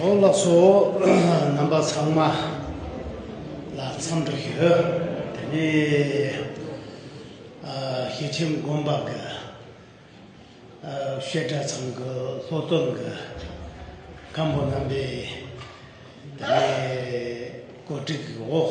ཨོ་བླ་སོ་རྣམ་པ་ཚང་མ་ལ་འཚམས་འདྲི་ཞུ། དེ་ནས་ཞི་ཁྲིམས་དགོན་པ་གི་བཤད་གྲྭ་ཚང་གི་སློབ་སྟོན་གི་སྒམ་པོ་རྣམ་པས་དེ་ནས་གོ་སྒྲིག་གི་འོག་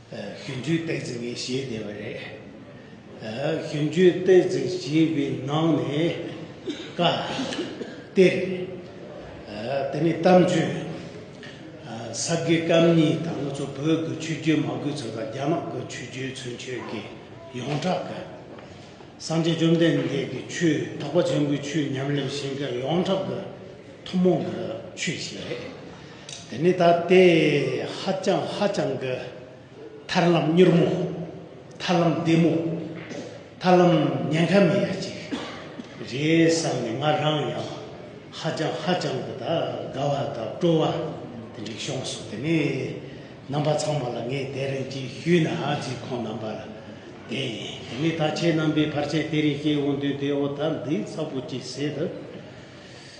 ཞུན་ཆུའི་སྟེགས་འཛིན་གྱི་གཞི་དེ་བས་རེད། ཞུན་ཆུའི་སྟེགས་འཛིན་གཞི་པའི་ནང་ནས་བཀའ་གཏེར། དེ་ནས་གཏམ་རྒྱུད། ས་དགེ་སྐམ་གཉིས་དང་ལྔ་ཚོ་བོད་དགོས་ཆོས་རྒྱུད་མ་དགོས་ཚོ་དང་རྒྱ་ནག་དགོས་ཆོས་རྒྱུད་ཚུན་ཆོད་ཀྱི་ཡོངས་གྲགས་ཀྱི། སངས་རྒྱས་བཅོམ་ལྡན་འདས་ཀྱི་ཆོས་དག་པ་ཆེན་པོའི་ཆོས་ཉམས་ལེན་བཞིན་གྱི་ཡོངས་གྲགས་ཀྱི་ཐུན་མོང་གི་ཆོས་ཤིག་རེད། དེ་ནི་ད་ལྟའི་ཧ་ཅང་ཧ་ཅང་གི་ཐར་ལམ་མྱུར་མོ། ཐར་ལམ་བདེ་མོ། ཐར་ལམ་ཉེན་ཁ་མེད་ཡ་ཅིག་རེད་བསམ་ནས་ང་རང་ཡང་ཧ་ཅང་ཧ་ཅང་གི་དགའ་བ་དང་སྤྲོ་བ་དེ་འདྲས་བྱུང་སོང་དེ་ནས་རྣམ་པ་ཚང་མ་ལ་ངས་དེ་རིང་གི་བཞུད་ན་རྫིག་ཁོང་རྣམ་པར་དེ་ཡིན་དེ་ནས་ད་ཁྱེད་རྣམ་པས་བར་ཆད་དེ་རིང་སྐྱེལ་འོང་དུས་དེ་འོ་ད་འདི་ཚ་པོ་ཅིག་བྱེད་དུ་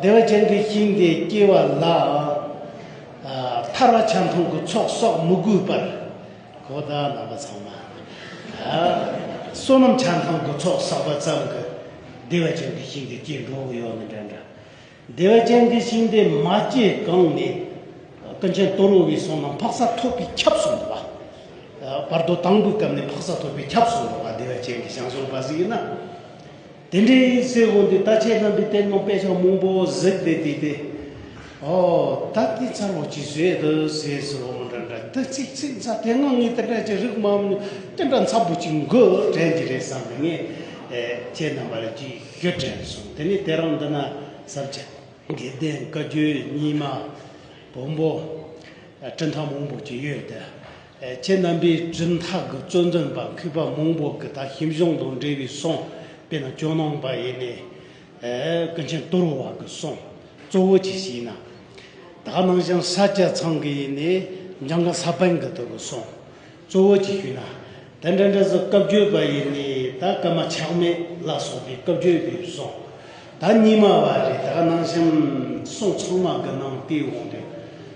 བདེ་བ་ཅན་གྱི་ཤིང་དེ་སྐྱེ་བ་ལའང། ཐར་བ་ཆ་མཐུན་གྱི་ཚོགས་གསོག་མི་དགོས་པར། གོ་བརྡ་རྣམ་པ་ཚང་མ། བསོད་ནམས་ཆ་མཐུན་གྱི་ཚོགས་བསགས་པ་ཙམ་གྱིས་བདེ་བ་ཅན་གྱི་ཤིང་དེ་སྐྱེ་འགྲོ་གི་ཡོད་མི་འདྲ་འདྲ། བདེ་བ་ཅན་གྱི་ཤིང་དེ་མ་སྐྱེས་གོང་ནས། ཀུན་མཁྱེན་སྟོན་རོལ་བའི་བསོད་ནམས་འཕགས་ས་ཐོབ་པའི་ཁྱབ་སོང་བ། བར་དོ་དང་པོའི་སྐབས་ནས་འཕགས་ས་ཐོབ་པའི་ཁྱབ་སོང་བ་བདེ་བ་ཅན་གྱི་ཤིང་བསོགས་པ་ཟིག་ཡིན་ན། དེ་འདྲའི་ཡིན་ཟེར་དགོས་འདུག་ད་ཁྱེད་རྣམ་པའི་གཏེར་ནང་དཔེ་ཆ་མང་པོ་གཟིགས་བསྡད་འདུག་སྟེ། ཨོ། ད་འདི་ཚར་བ་ཅིག་བཟོས་འདུག་ཟེར་ཟེར་བ་མ་འདྲ་འདྲ་འདི་ཚིག་ཚིག་མཚར་དེ་སྔ་ངས་དེ་འདྲ་ཅིག་རིག་མ་མྱོང་དེ་འདྲ་མཚར་པོ་ཅིག་འགོ་དྲན་གྱི་རེད་བསམ་ནས་ངས་ཁྱེད་རྣམ་པ་ལ་རྒྱུས་རྒྱུ་དྲན་སོང་དེ་ནས་དེ་རང་འདི་ན་ཟབ་ཆ་དགེ་ལྡན་བཀའ་བརྒྱུད་རྙིང་མ་བོན་པོ་སྤྲིན་ཐང་མང་པོ་ཅིག་ཡོད་དེ། ཁྱེད་རྣམ་པའི་སྦྲིན་ཐག་གི་བཙོན་དོན་པ་གུས་པ་མང་པོ་གི་ད་ཞིབ་གཞུང་དང་འབྲེལ་བའི་གསུང་དཔེ་ན་ཇོ་ནང་པ་ཡེ་ནས་ཀུན་མཁྱེན་དུར་བ་གི་གསུང་གཙོ་བོ་ཅིག་ཞིག་ཡིན་ན། ད་ནང་བཞིན་ས་སྐྱ་ཚང་གི་ཡེ་ནས་འཇང་གི་ས་པན་གི་དུ་གི་གསུང་གཙོ་བོ་ཅིག་ཞུས་ན། དེ་འདྲ་འདྲ་ཟུར་བཀའ་བརྒྱུད་པ་ཡེ་ནས་ད་ཀར་མ་ཆགས་མེད་ལ་སོགས་པའི་བཀའ་བརྒྱུད་པའི་གསུང་ད་རྙིང་མ་བ་རེད་ད་ནང་བཞིན་གསུང་ཚང་མ་གི་ནང་བསྟི་འོང་དུས།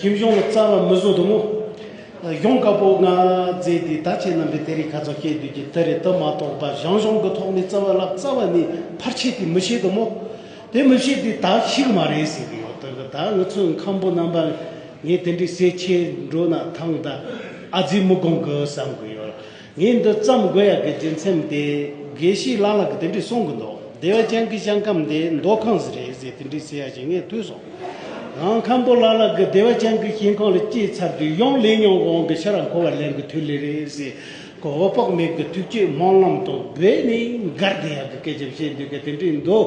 ཁྱིམ་གཞུང་ལ་རྩ་བ་མི་བཟོ་དུ་མོ། གཞོང་དཀར་པོ་ལྔ་བརྫེས་ཏེ་ད་ཅི་རྣམ་པའི་དེ་རིགས་ག་ཚོད་སྐྱེས་དུས་ཀྱི་དེ་རེད་དུ་མ་གཏོགས་ད་གཞང་གཞོང་གི་ཐོག་ནས་རྩ་བ་བརླག་རྩ་བ་ནི་ཕར་ཆད་དེ་མི་ཤེས་དུ་མོ། དེ་མི་ཤེས་དུས་ད་ཤི་གི་མ་རེད་ཟེར་གི་ཡོད་དོ་གི་ད་ང་ཚོའི་མཁན་པོ་རྣམ་པར་ངས་དེ་འདྲའི་ཟས་ཁྱེར་འགྲོ་ན་ཐང་ད་ཨ་རྫི་མི་དགོངས་གི་བསམ་གི་ཡོད། ངས་འདི་བརྩམས་དགོས་ཡག་གི་རྒྱུ་མཚན་དེ་དགེ་བཤེས་ལགས་ལ་གི་དེ་འདྲས་གསུང་གི་འདུག་བདེ་བ་ཅན་གི་ཞང་ཁམས་དེ་མདོ་ཁམས་སུ་རེད་ཟེར་དེ་འདྲས་ཟེར་ཡག་ཞིག་ངས་ཐོས་སོང། ནང་ཁམས་པོ་ལགས་ལ་གི་བདེ་བ་ཅན་གི་ཞིང་ཁམས་ལ་སྐྱེས་ཚར་དུས་ཡང་ལས་ཉོག་འགོང་གི་ཕྱིར་ར་འཁོར་བ་ལེན་གི་དུས་ལས་རེད་ཟེར་གི་འོ་དཔག་མེད་གི་ཐུགས་བསྐྱེད་སྨོན་ལམ་དང་སྦས་ནས་མགར་དེ་ཡག་གི་སྐད་ཆ་བཤད་འདོད་གི་དེ་འདྲས་འདུག་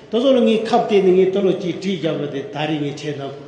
ད་གཟོད་ལ་ངའི་ཁབ་བལྟས་ནས་ངའི་སྟོད་ལོགས་ཀྱི་བྲིས་རྒྱག་པ་དེ་ད་རེས་ངས་བྱས་དང།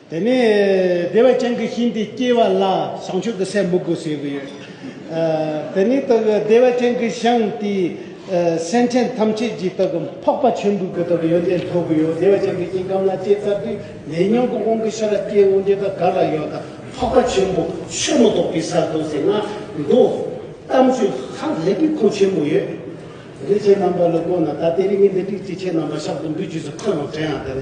དེ་ནས་བདེ་བ་ཅན་གྱི་ཤིང་དེ་སྐྱེས་པ་ལ་བྱང་ཆུབ་ཏུ་སེམས་མི་དགོས་ཟེར་གྱི་ཡོད། དེ་ནི་དག་གི་བདེ་བ་ཅན་གྱི་ཤིང་དེས་སེམས་ཅན་ཐམས་ཅད་ཀྱི་དག་གི་འཕགས་པ་ཆེན་པོའི་དག་གི་ཡོན་ཏན་འཐོབ་ཀྱི་ཡོད། བདེ་བ་ཅན་གྱི་ཤིང་སྐམ་ལ་སྐྱེས་ཚར་དུས་ལས་ཉོན་གྱི་དབང་གིས་ཤ་ལ་སྐྱེས་འོང་རྒྱུ་དང་གར་ལ་ཡོད་དང་འཕགས་པ་ཆེན་པོ་ཆོས་མ་གཏོགས་པའི་སར་འདུག་ཟེར་ན་འདུག། གཏམ་རྒྱུད་ཧ་ལས་པའི་ཁུངས་ཆེན་པོ་ཡོད། འདུས་བྱས་རྣམ་པ་ལ་བཀོད་ན་ད་ལྟའི་རིགས་ངན་འདི་དྲུག་ཅིག་ཆེས་རྣམ་པར་གཞག་ཏུ་འདུས་བྱས་སུ་འཁོད་རུང་བྲན་ཡང་དེ་ལ།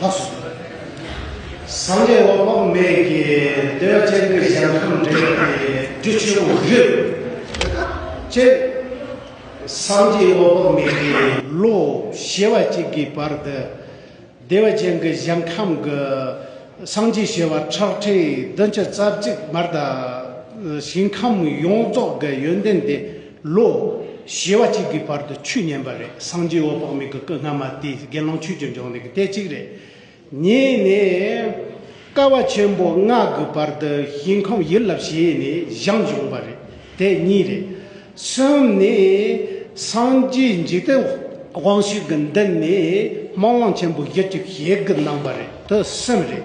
ལྷ་སོ། སངས་རྒྱས་དབང་བོ་མེད་ཀྱི་འདོད་ལྷ་ཆེན་པོའི་ཞལ་ཁམས་འདྲེས་པའི་སྦྲུལ་ཆེན་པོ་བཞི། ཅེས་སངས་རྒྱས་དབང་བོ་མེད་ཀྱི་ལོ་བྱེ་བ་གཅིག་གི་བར་དུ་བདེ་བ་ཅན་གྱི་ཞིང་ཁམས་ཀྱི་སངས་རྒྱས་བྱེ་བ་ཁྲག་ཁྲིག་བདུན་བཅུ་རྩ་གཅིག་མར་དང་ཞིང་ཁམས་ཡོངས་རྫོགས་ཀྱི་ཡོན་ཏན་དེ་ལོ། བཞི་བ་གཅིག་གི་བར་དུ་ཆུས་ཉན་པ་རེད་སངས་རྒྱས་འོད་དཔག་མེད་ཀྱི་སྐུ་སྔ་མ་དེའི་དགེ་སློང་ཆོས་ཀྱི་འབྱུང་གནས་ཀྱི་དེ་གཅིག་རེད། གཉིས་ནི། ཀ་བ་ཆེན་པོ་ལྔ་གི་བར་དུ་ཞིང་ཁམས་ཡུལ་ལ་བྱས་ནས་བཞེངས་བྱུང་བ་རེད་དེ་གཉིས་རེད། གསུམ་ནི། སངས་རྒྱས་འཇིག་རྟེན་དབང་ཕྱུག་གི་མདུན་ནས་སྨོན་ལམ་ཆེན་པོ་བཞི་བཅུ་ཞེ་དགུ་གནང་བ་རེད་དེ་གསུམ་རེད།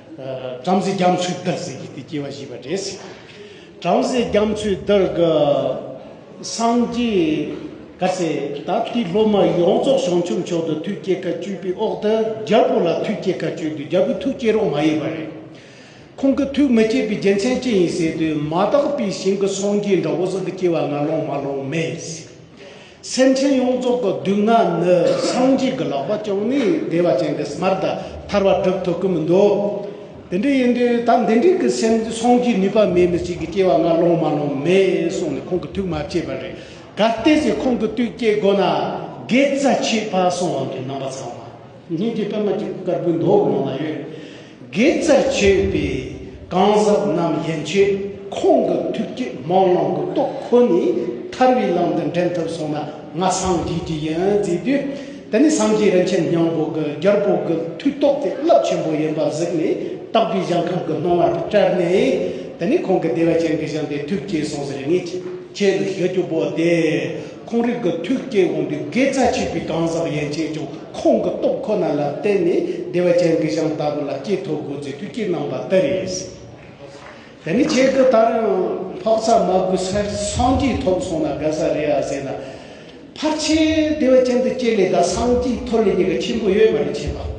བྲམ་ཟེ་རྒྱ་མཚོའི་བདག་ཟེར་གྱི་དེ་སྐྱེ་བ་བཞི་པ་རེད། བྲམ་ཟེ་རྒྱ་མཚོའི་བདག་སངས་རྒྱས་ག་ཚད་ད་ལྟའི་སློབ་མ་ཡོངས་རྫོགས་བྱང་ཆུབ་མཆོག་ཏུ་ཐུགས་བསྐྱེད་ཁ་བཅུ་པའི་འོག་ཏུ་རྒྱལ་པོ་ལ་ཐུགས་བསྐྱེད་ཁ་བཅུ་དུས་རྒྱལ་པོའི་ཐུགས་བསྐྱེད་རོགས་མ་ཡིན་པ་རེད། ཁོང་གི་ཐུགས་མི་བསྐྱེད་པའི་རྒྱལ་མཚན་ཅི་ཡིན་ཟེར་དུས་མ་དག་པའི་ཞིང་གི་སངས་རྒྱས་འདྲ་བོ་ཟག་གི་སྐྱེ་བ་ང་ལོང་མ་ལོང་མེད། སེམས་ཅན་ཡོངས་རྫོགས་ཀྱི་སྡུག་བསྔལ་ནི་སངས་རྒྱས་ཀྱི་ལག་པ་བཅངས་ནས་བདེ་བ་ཅན་གྱི་སྨྲར་ད་ཐར་བ་སྒྲུབ་ཐུབ་ཀྱི་མི་འདུག་དེ་འདྲ་ཡིན་དུས་ད་འདི་འདྲའི་གི་སེམས་སངས་རྒྱས་ནུས་པ་མེད་མི་ཞིག་གི་སྐྱེ་བ་ང་སློང་མ་སློང་མེད་གསུངས་ནས་ཁོང་གི་ཐུགས་མ་བསྐྱེད་པ་རེད་ག་བལྟས་ཚེ་ཁོང་གི་དུས་སྐྱེ་དགོས་ན་དགེ་རྩ་ཆད་ཕ་སོང་བ་འདྲའི་རྣམ་པ་ཚང་མ། ཉིན་དེའི་པདྨ་ཀྱི་དཀར་པོའི་མདོག་ངང་ལ་ཡོད། དགེ་རྩར་བྱེད་པའི་གང་ཟག་རྣམས་ཡན་ཆད་ཁོང་གི་ཐུགས་ཀྱི་སྨོན་ལམ་གྱི་རྟོགས་ཁོ་ནས་ཐར་བའི་ལམ་དུ་འདྲེན་ཐུབ་སོང་ན་ང་སངས་རྒྱས་ཀྱི་ཡོན་བརྩིས་དུས་དེ་ནི་སངས་རྒྱས་རིན་ཆེན་སྙིང་པོ་གི་རྒྱལ་པོ་གི་མཐུས་རྟོགས་ཏེ་རླབས་ཆེན་པོ་ཡིན་པ་གཟིགས་ནས་རྟག་པའི་གཞན་ཁམས་ཀྱི་སྣང་བར་བཀྲལ་ནས་དེ་ནས་ཁོང་གི་བདེ་བ་ཅན་གྱི་བཞེངས་པའི་ཐུགས་ཀྱི་གསུང་ཟེར་ངེས་ཆེད་དུ་ཞུ་རྒྱུ་པོ་སྟེ། ཁོང་རིགས་ཀྱི་ཐུགས་བསྐྱེད་འོང་དུས་དགེ་རྩ་ཆོས་ཀྱི་གང་ཟག་ཡན་ཆད་ཀྱང་ཁོང་གི་སྟོབས་ཁོ་ན་ལ་བརྟེན་ནས་བདེ་བ་ཅན་གྱི་ཞིང་ལྟ་བུ་ལ་སྐྱེས་ཐོབ་དགོས་ཚུལ་ཐུགས་བསྐྱེད་གནང་བ་དེ་རེད། དེ་ནི་ཁྱེད་ཀྱི་ད་རུང་འཕགས་ས་མ་གུ་སར་སངས་རྒྱས་ཐོབ་སོང་ན་དགའ་ས་རེད་ཨ་ཟེར་ན། ཕར་ཕྱིན་བདེ་བ་ཅན་དུ་སྐྱེས་ལེ་ད་སངས་རྒྱས་ཐོབ་ལེ་གཉིས་ཀ་ཆེན་པོ་ཡོད་མ་རེད་ཁྱེད་པ།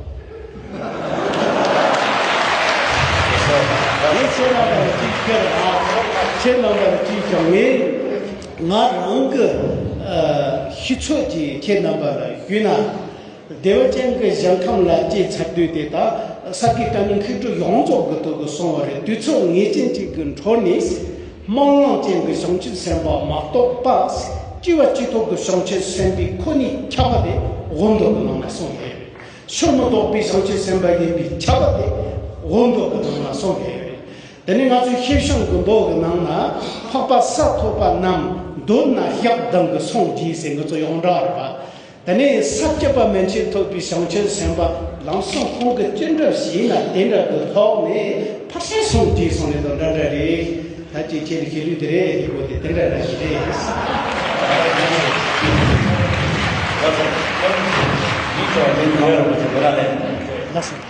ངས་བཤད་ན་ད་རུང་ཅིས་ཁྱེད་རང། ཁྱེད་རྣམས་པ་ལ་ཅིས་ཀྱང་ངས། ང་རང་གི་ཤི་ཚོད་ཀྱི་ཁྱེད་རྣམ་པར་བརྒྱུད་ན། བདེ་བ་ཅན་གྱི་གཞན་ཁམས་ལ་སྐྱེས་ཚར་དུས་དེ་དག་ས་དགེ་བཀའ་རྙིང་ཁེགས་དྲུག་ཡོངས་རྫོགས་གི་དོད་དུ་སོང་བ་རེད་དུས་ཚོད་ངེས་ཅན་ཅིག་གི་འཕྲོ་ནས་སྨོན་ལམ་ཅན་གྱི་བྱང་ཆུབ་སེམས་དཔའ་མ་གཏོགས་པ་སྐྱེ་བ་གཅིག་ཐོག་གི་བྱང་ཆུབ་སེམས་དཔའི་ཁོ་ནའི་ཁྱབ་པ་དེ་དབུ་མདོ་གི་ནང་ན་སོང་བས་རེད། ཆོས་མི་རྟོགས་པའི་བྱང་ཆུབ་སེམས་དཔའ་ཡིན་པའི་ཁྱབ་པ་དེ་དབུ་མདོ་གི་ནང་ན་སོང་བས་རེད། འདི་ནི་ང་ཚོའི་ཤེས་བྱ་མགོན་པོ་གི་ནང་ན་འཕགས་པ་ས་ཐོབ་པ་རྣམས་མདོར་ན་བཤགས་སྡང་གི་སངས་རྒྱས་སེང་གེ་གཙོ་ཡང་འདྲ་བར་བ་དེ་ནི་ས་བཅུ་པ་མན་ཆད་ཐོབ་པའི་བྱང་ཆུབ་སེམས་དཔའ་ལམ་སེང་ཁོང་གི་སྤྱི་འགྲོ་བྱས་ན་དེ་འདྲ་དུ་ལྷོག་ནས་ཕར་ཕྱིན་སངས་རྒྱས་སོང་ནས་དང་འདྲ་འདྲ་རེད་ད་ཅི་བྱེད་རེད་བྱེད་ལུགས་དེ་རེད་འདི་གོ་དེ་དེ་འདྲ་འདྲ་ཞིག་རེད། ལགས་སོ།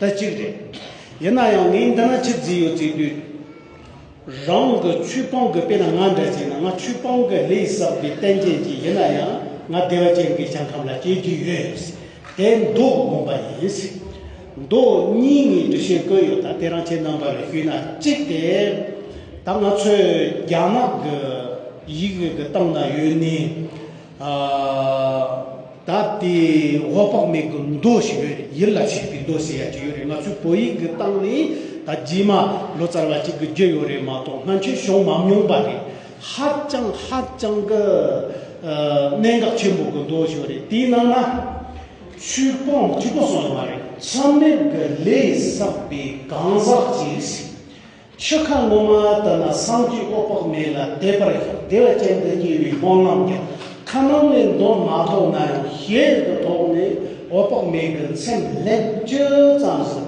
ད་ཅིག་རེད། ཡིན་ན་ཡང་ངས་འདི་ན་ཆུ་རྫི་ཡོད་ཚེ་དུས་རང་གི་ཆུ་སྤང་གི་དཔེ་ན་ང་འདྲ་བྱས་ན་ང་ཆུ་སྤང་གི་ལས་བསགས་པའི་རྟེན་ཅན་གྱི་ཡིན་ན་ཡང་ང་བདེ་བ་ཅན་གྱི་བྱང་ཁམས་ལ་སྐྱེ་རྒྱུ་ཡོད། དེ་མདོ་དགོངས་པ་ཡིན། མདོ་གཉིས་ངས་འབྲི་བཞིན་བཀོད་ཡོད་ད་དེ་རང་ཁྱེད་རྣམ་པར་ཞུས་ན་ཅིག་དེ་ད་ང་ཚོའི་རྒྱ་ནག་གི་ཡིག་གི་སྟེང་ན་ཡོད་ནི། ད་ལྟའི་འོག་དཔག་མེད་ཀྱི་མདོ་ཞེས་པའི་ཡིད་ལ་བྱེད་པའི་མདོ་ཟེར་ཡ་གཅིག་ཡོད་རེད་ང་ཚོའི་བོད་ཡིག་གི་སྟེང་ནས་ད་རྗེས་མ་ལོ་ཙཱ་བ་གཅིག་གི་བརྒྱུད་ཡོད་རེད་མ་གཏོགས་སྔ་འཕྱི་བྱུང་མ་མྱོང་པ་རེད། ཧ་ཅང་ཧ་ཅང་གི་གནད་འགག་ཆེན་པོ་གི་མདོ་ཞིག་རེད་དེའི་ནང་ན་ཆོས་སྤོང་གཅིག་པོ་གསུངས་ཡོད་མ་རེད་མཚམས་མེད་ཀྱི་ལས་བསགས་པའི་གང་ཟག་ཅིག་ཆོས་ཁ་ངོ་མ་ལྟ་ན་སངས་རྒྱས་ཨོ་དཔག་མེད་ལ་དད་པར་བདེ་བ་ཅན་དུ་སྐྱེ་བའི་སྨོན་ལམ་ཀྱང་ཁ་ནང་ནས་འདོན་མ་ཐུབ་ན་ཡང་ཞལ་དུ་ཐོགས་ནས་ཨོ་དཔག་མེད་ཀྱི་མཚན་ལྷན་སྐྱེས་ཙམ་ཞིག་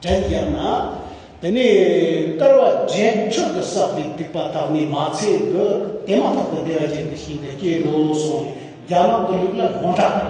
དྲན་རྒྱབ་ན། དེ་ནས་སྐར་བ་བརྒྱད་ཁྲི་དུ་བསགས་པའི་སྡིག་པ་དག་ནི་མ་ཚད་དུ་དེ་མ་ཐག་ཏུ་བདེ་བ་ཅན་དུ་ཤིན་ཏུ་སྐྱེས་འགྲོ་སོང་ནས་རྒྱ་ནག་ཏུ་ལུག་ལ་སྔོ་དྲག་དང།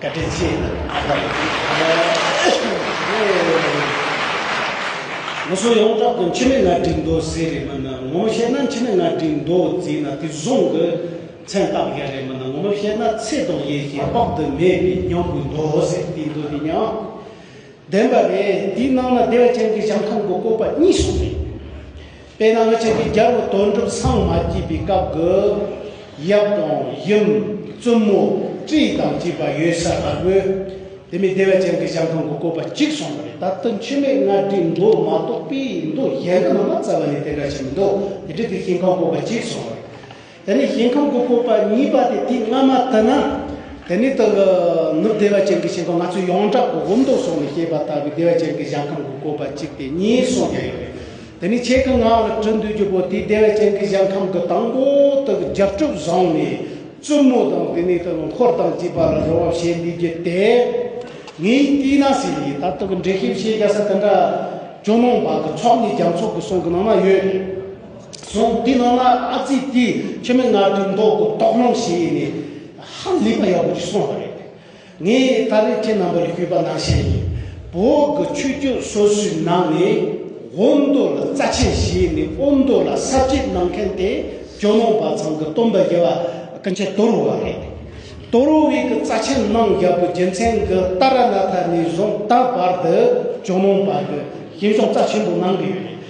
བཀའ་དྲིན་ཆེ། ངོ་སོ་ཡོངས་གྲགས་དུ་འཆི་མེད་ང་བསྒྲིགས་མདོ་ཟེར་རེད་མིན་ན་ངོ་མ་བཤད་ན་འཆི་མེད་ང་བསྒྲིགས་མདོ་ཟེར་ན་དེ་བཟུང་གི་མཚན་རྟགས་བརྒྱ་རེད་མིན་ན་ངོ་མ་བཤད་ན་ཚེ་དང་ཡེ་ཤེས་དཔག་ཏུ་མེད་པའི་སྙིང་པོའི་མདོ་ཟེར་དེའི་མདོ་དེ་ཡང་བདེན་པ་རེད་དེའི་ནང་ན་བདེ་བ་ཅན་གྱི་ཞིང་ཁམས་ཀྱི་བཀོད་པ་གཉིས་གསུངས་རེད། དཔེར་ན་ཁྱེད་ཀྱིས་རྒྱལ་པོ་དོན་གྲུབ་སངས་མ་སྐྱེས་པའི་སྐབས་ཀྱི། ཡབ་དང་ཡུམ། བཙུན་མོ། བཀྲིས་དང་བཅས་པ་ཡོད་ས་ལྟ་བུ། དེ་མིན་བདེ་བ་ཅན་གྱི་ཞང་ཁང་གི་བཀོད་པ་གཅིག་སོང་བ་རེད་ད་དུང་ཆོས་མེད་མངའ་སྡེའི་མདོ་མ་གཏོགས་པའི་མདོ་གཞན་དུ་མ་མ་རྩ་བ་ནས་དེ་འདྲ་ཞིག་མི་འདུག་དེ་འཕྲལ་དུས་ཞིང་ཁང་བཀོད་པ་གཅིག་སོང་བ་རེད། དེ་ནས་ཞིང་ཁམས་ཀྱི་སྤོབས་པ་གཉིས་པ་དེ་དུས་སྔ་མ་དུ་ན་དེ་ནས་དང་ནུབ་བདེ་བ་ཅན་གྱི་ཞིང་ཁམས་ང་ཚོས་ཡོངས་གྲགས་སྒོ་སྒོམ་སྟོབས་སོགས་ནས་བཤད་པ་ལྟ་བུའི་བདེ་བ་ཅན་གྱི་གཞན་ཁམས་ཀྱི་སྤོབས་པ་གཅིག་དེ་གཉིས་གསུངས་ཀྱང་ཡོད་རེད། དེ་ནས་ཆེད་ཀྱི་ངག་ལ་འཁྲིད་འདོད་རྒྱུ་པོ་དེ་བདེ་བ་ཅན་གྱི་གཞན་ཁམས་ཀྱི་དང་པོ་དག་གི་རྒྱབ་གྲུབ་བཟང་ནས་བཙུན་མོ་དང་དེ་ནས་དང་འཁོར་དང་བཅས་པ་ལ་རོལ་བ་བྱེད་འདོད་རྒྱུ་དེ་ངའི་བསྟི་གནང་ཟེར་ཡིན་ད་དུ་གི་འགྲེལ་བཤད་བཤད་རྒྱ་ས་དེ་འདྲ་ཇོ་ནང་བ་གི་ཚོགས་ནས་རྒྱ་མཚོ་གི་གསུང་གི་ནང་ན་ཡོད་རེད། སོང་དེའི་ནང་ན་ཨ་ཙི་དེ་ཁྱོད་མི་སྔར་དུས་མདོ་དགུ་རྟོགས་སློང་བྱས་ཡས་ནས་ཧ་ལས་པ་ཡག་པོ་ཞིག་སོང་བ་རེད། ངས་ད་རེས་ཁྱེད་རྣམ་པར་ཞུས་པ་ནང་བཤད་ཡིན་བོད་ཀྱི་ཆོས་རྒྱུད་སོ་སོའི་ནང་ནས་དབོན་མདོ་ལ་རྩ་ཆེན་བྱས་ནས་དབོན་མདོ་ལ་གསར་བརྗེ་གནང་མཁན་དེ་ཇོ་ནང་པ་ཚང་གི་སྟོན་པ་རྒྱལ་བ་ཀུན་བྱེད་དོ་རུ་བ་རེད། དོ་རུ་བས་ཀྱི་རྩ་ཆེན་གནང་རྒྱལ་པོ་རྒྱལ་མཚན་གྱི་རྟ་ར་ན་ཐ་ནས་བཟུང་ད་བར་དུ་ཇོ་ནང་པ་ཀྱི་ཞིང་སྐྱོང་རྩ་ཆེན་པོ་གནང་གི་ཡོད་རེད།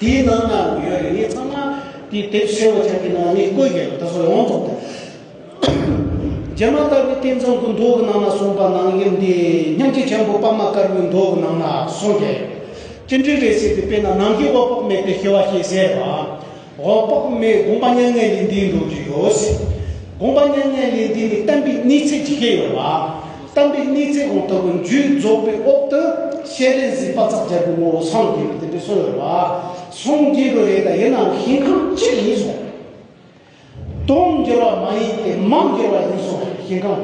དེའི་ནང་ན་ཡོད་རེ་ངས་ཚང་མ་དེ་དེབ་བཤེར་བ་ཆགས་ཀྱི་ནང་ནས་བཀོད་རྒྱ་ཡོད་ད་གཟོད་ཡོངས་རྫོགས་དེ་རྗེ་མ་ལྟ་བུའི་རྟེན་ཚང་གི་མདོག་གི་ནང་ན་སོང་པ་ནང་ཡིན་འདི་སྙམ་སྐྱེ་ཆེན་པོ་པདྨ་དཀར་པོའི་མདོག་གི་ནང་ན་སོང་རྒྱ་ཡོད་ཅི་འདྲའི་རེ་བསད་དེ་དཔེ་ན་ནང་གི་འོག་པགས་མེད་པའི་ཤེས་བ་ཞེས་ཟེར་བ་འོག་པགས་མེད་དགོངས་པ་མྱ་ངན་ལས་འདས་འགྲོ་རྒྱུ་ཡོད་སྲིད་དགོངས་པ་མྱ་ངན་ལས་འདས་ནི་གཏན་པའི་གནས་ཚད་ཇི་སྐད་ཡོད་པ། གཏམ་དཔེ་གཉིས་ཚེ་གང་ལྟ་བུ་མཇུག་རྫོགས་པའི་འོག་ཏུ་བཤད་རེས་གཟིགས་པ་ཙག་སྦྱར་གྱི་ངོ་བོ་སངས་རྒྱས་པ་དེ་འདྲས་གསུངས་ཡོད་པ་སངས་རྒྱས་པ་རེད་ད་ཡིན་ནའང་ཞིང་ཁམས་གཅིག་ཡིན་སོང། སྟོང་འགྱུར་བ་མ་ཡིན་ཏེ་མང་འགྱུར་བ་ཡིན་སོང་ཞིང་ཁམས་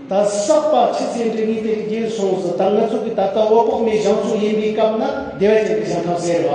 ད་བསགས་པ་ཕྱི་ཚེ་འབྲས་གཉིས་དེར་འགྱེལ་སོང་ཟིག་ད་ང་ཚོ་གི་ད་ལྟ་འོད་དཔག་མེད་བཞེངས་ཚུལ་ཡིན་པའི་སྐབས་ན་བདེ་བ་ཅན་གྱི་ཞིང་ཁམས་ཟེར་བ།